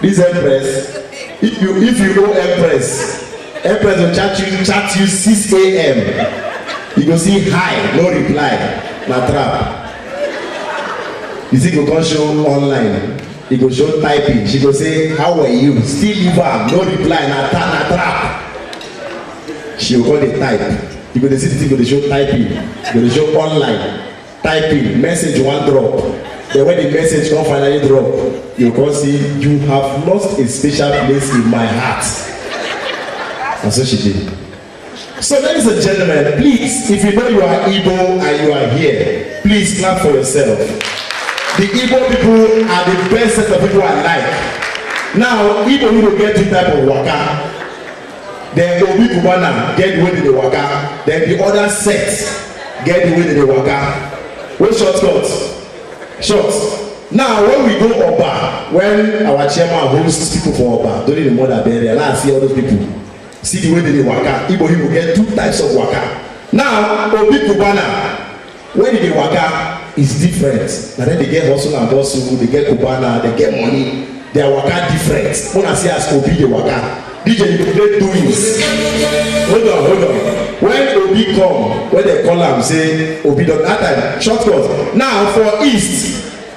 This empress, if you if you go empress, empress will chat you chat you 6 a.m. You go see hi, no reply, na trap. You see, go come show online. You go show typing. She go say, how were you? Still leave am, no reply, na ta na trap. She go come dey type. You go dey see the thing go dey show typing, go dey show online. typing message you wan drop then when the message come finally drop you go come see you have lost a special place in my heart na so she dey so ladies and gentlemen please if you know you are igbo and you are here please clap for yourself the igbo people are the best set of people i like now igbo people get two type of waka then obi cubana get the way they dey waka then the other set get the way they dey waka wey short cut short now when we go oba when our chairman host people for oba during the mother burial now i see all those people see the way they dey waka igbo people get two types of waka now obi cubana when you dey waka is different na dem dey get hustle and bustle dey get cubana dey get money their waka different una see as obi dey waka dj you go dey doings hold on hold on when obi come when dem call am say obi don that time short cut now for east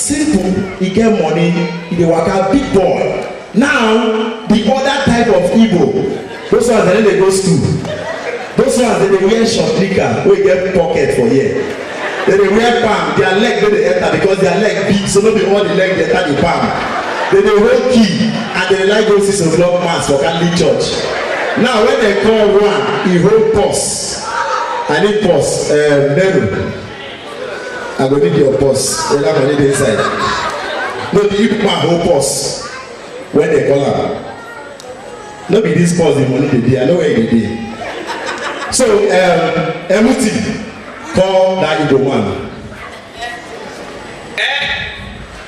simple e get money e dey waka big boy now the other type of igbo those ones dem no dey go school those ones dem dey wear short nika wey get pocket for here dem dey wear palm their leg no dey enter because their leg big so no be all the leg dey enter the palm dem dey hold key and dem dey like go six o'clock mass for catholic church now when dem call one e hold purse i need purse um, nero I go need your boss whether money dey inside. No be you man hold boss when they call am. No be this boss the money dey dey, I know where e dey dey. So um, Emuti call that Igbo man.